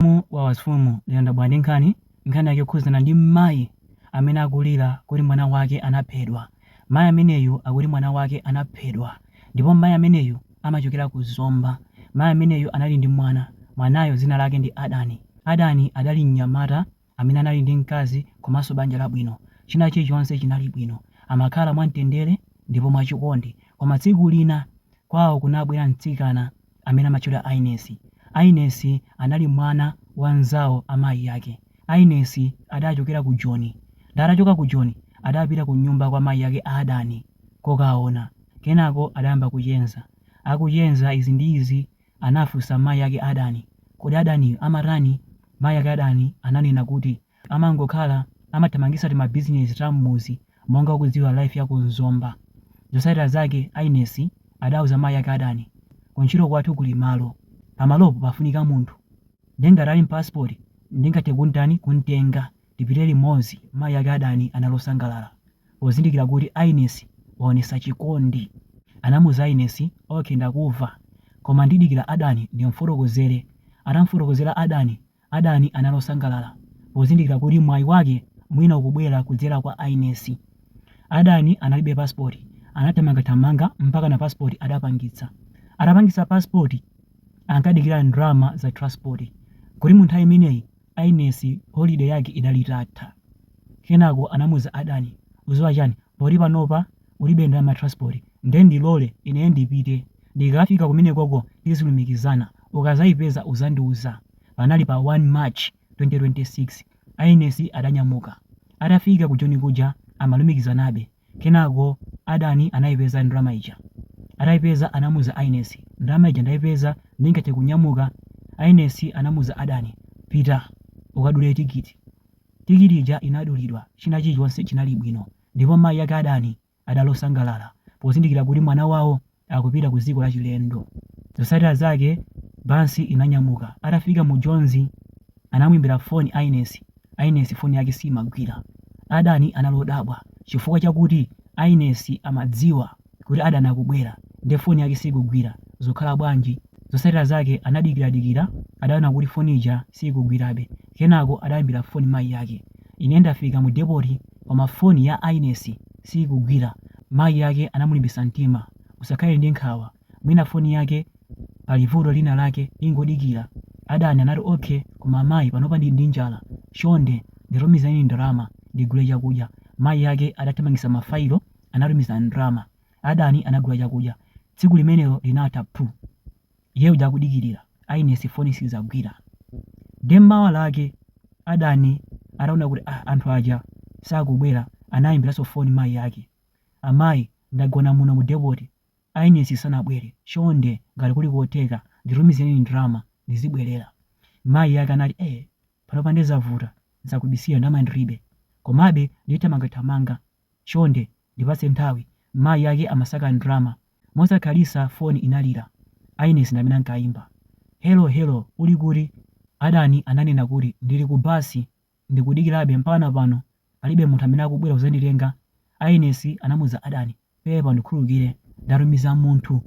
Mzimu wa Wafumu Liya ndabwera ndi nkhani. Nkhani yake yokhudzana ndi mayi amene akulira kuti mwana wake anaphedwa. Mayi ameneyu akuti mwana wake anaphedwa ndipo mayi ameneyu amachokera ku Zomba. Mayi ameneyu anali ndi mwana. Mwanayo dzina lake ndi Adani. Adani adali mnyamata amene anali ndi mkazi komanso banja labwino. China chilichonse chinali bwino. Amakhala mwamtendere ndipo mwachikondi. Koma tsiku lina kwawo kunabwera mtsikana. amene amatchedwa Ainesi. Ainesi anali mwana wa mnzawo amayi ake. Ainesi adachokera ku Joni. Nde atachoka ku Joni adapita kunyumba kwa mayi ake a Adani kokaona. Kenako adayamba kuchenza. Akuchenza izi ndi izi anafunsa mayi ake a Adani, Kodi Adani amatani? Mayi ake a Adani ananena kuti, amangokhala amathamangisa timabizinezi ta mmuzi monga ukudziwa life ya ku Zomba. Zosatira zake Ainesi adauza mayi ake adani kuntchito kwathu kuli malo. Pamalopo pafunika munthu. Nde ngati ali ndi passport ndingathe kuntani kuntenga tipite limodzi mayi ake adani anali osangalala pozindikira kuti Ainesi waonesa chikondi. Anamuuza Ainesi okay ndakuva koma ndidikira adani ndimfotokozere. Atamufotokozera adani Adani anali osangalala pozindikira kuti mwayi wake mwina ukubwera kudzera kwa Ainesi. Adani analibe passport, anathamangathamanga mpakana passport adapangitsa. Atapangitsa passport ankadikira ndalama za transport kuti mu nthawi imeneyi Ainesi holiday yake idali itatha. Kenako anamuza Adani, uziwa chani poti panopa ulibe ndalama ya transport nde ndilole ineyo ndipite ndikafika kumenekoko tizilumikizana ukazayipeza uzandiuza panali pa 1 march 2026 Ainesi adanyamuka atafika ku joni kuja amalumikizanabe kenako adani anayipeza ndalama ija atayipeza anamuza Ainesi ndalama ija ndayipeza ndingathe kunyamuka Ainesi anamuza adani pita ukadule tikiti tikiti ija inadulidwa china chilichonse chinali bwino Ndipo mayi ake Adani adali osangalala pozindikira kuti mwana wawo akupita ku dziko lachilendo. Zotsatira zake bansi inanyamuka. Atafika mu Jonzi anamuimbira foni Ainesi. Ainesi foni yake siimagwira. Adani anali odabwa chifukwa chakuti Ainesi amadziwa. kuti Adani akubwera nde phone yake sikugwira zukhala bwanji? Zosatira zake anadikira dikira adaona kuti phone ija sikugwirabe kenako adaimbira phone mayi ake ine ndafika mu depoti koma phone ya Ainesi sikugwira mayi ake anamulimbisa mtima usakhale ndi nkhawa mwina phone yake pali vuto lina lake ingodikira Adani anati okay koma mayi panopa ndili ndi njala chonde nditumizireni ndalama ndigule chakudya mayi ake adathamangisa ma fayilo anatumiza ndrama, adani anagula chakudya, tsiku limenelo linatha phu! Iye uja akudikirira, ayinesi foni sizagwira. Nde mawa lake adani ataona kuti ah anthu aja sakubwera anayimbiranso foni mayi ake, amayi ndagona muno mu depoti ayinesi sanabwere chonde ngati kuli kotheka nditumizireni ndrama ndizibwerera. Mayi ake anati eh panopa nde zavuta sindikubisira ndrama ndilibe komabe ndithamangathamanga. Chonde, ndipatse nthawi. Mayi ake amasaka ndalama. Mosakhalisa foni inalira. Aines ndi amene ankaimba. Hello, hello, uli kuti? Adani ananena kuti ndili ku basi ndikudikirabe mpakana pano palibe munthu amene akubwera kuzanditenga, Aines anamuza Adani. Pepa undikhululukire, ndatumiza munthu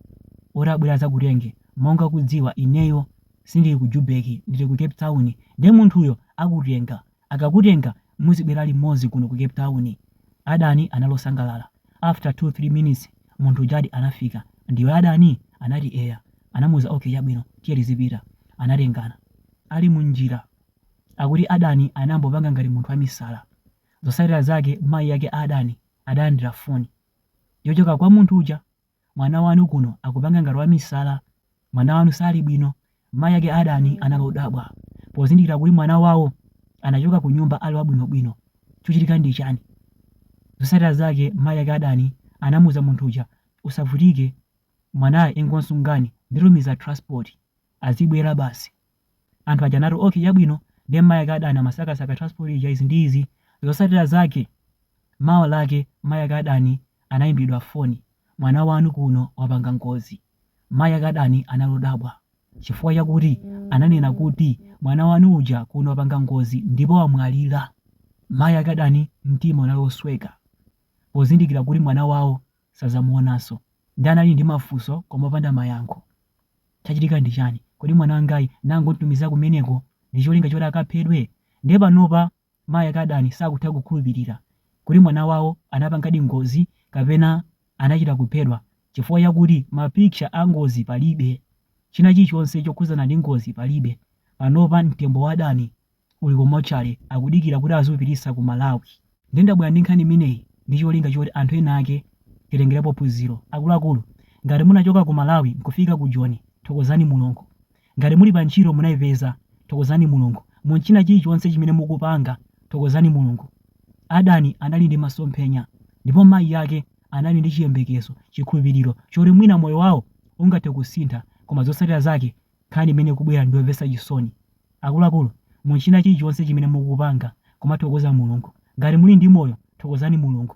oti abwere azakutenge, monga ukudziwa ineyo sindili ku Jubeki ndili ku Cape Town nde munthuyo akutenga, Akakutenga muzibwera limodzi kuno ku cape town. Adani anali osangalala after 2 3 minutes munthu ujadi anafika. Ndiwe adani? Anati eya. Anamuuza ok chabwino tiye tizipita. Anatengana. Ali mu njira akuti adani anangopanga ngati munthu wamisala. Zosatira zake mayi ake a adani adalandira foni yochoka kwa munthu uja. Mwana wanu kuno akupanga ngati wamisala. Mwana wanu sali bwino. Mayi ake a Adani anali odabwa pozindikira kuti mwana wawo anachoka kunyumba ali wabwinobwino. Chochitika ndi chani? Zotsatira zake mayi ake a Adani anamuza munthu uja, usavutike mwanayo ingonsungani nditumiza transport, azibwera basi. Anthu aja anati ok chabwino ndiye mmayi ake Adani amasakasaka transport ija izi ndi izi, zosatira zake mawa lake mmayi ake Adani anayimbiridwa foni mwana wanu kuno wapanga ngozi, mayi ake Adani anali odabwa chifukwa chakuti ananena kuti mwana wanu uja kuno wapanga ngozi ndipo wamwalira, mayi ake Adani mtima unali osweka pozindikira kuti mwana wawo sadzamuonanso. Nde anali ndi mafunso koma opanda mayankho? Chachitika ndi chani? Kodi mwana wangayi nangomtumiza kumeneko ndi cholinga choti akaphedwe? Ndiye panopa mayi ake Adani sakutha kukhulupilira kuti mwana wawo anapangadi ngozi kapena anachita kuphedwa chifukwa chakuti ma picture a ngozi palibe. China chilichonse chokhudzana ndi ngozi palibe. Panopa mtembo wa Adani uli ku motchale akudikira kuti aziupititsa ku malawi nde ndabwera ndi nkhani imeneyi ndi cholinga choti anthu ena ake titengelepo phunziro akuluakulu ngati munachoka ku malawi nkufika ku joni thokozani mulungu ngati muli pa ntchito munaipeza thokozani mulungu munchina chilichonse chimene mukupanga thokozani mulungu adani anali ndi masomphenya ndipo mayi ake anali ndi chiyembekezo chikhulupiliro choti mwina moyo wawo ungathe kusintha koma zotsatira zake Nkhani imene ikubwera ndi yomvetsa chisoni. Akuluakulu, mu china chilichonse chimene mukupanga, kumathokoza Mulungu. Ngati muli ndi moyo, thokozani Mulungu.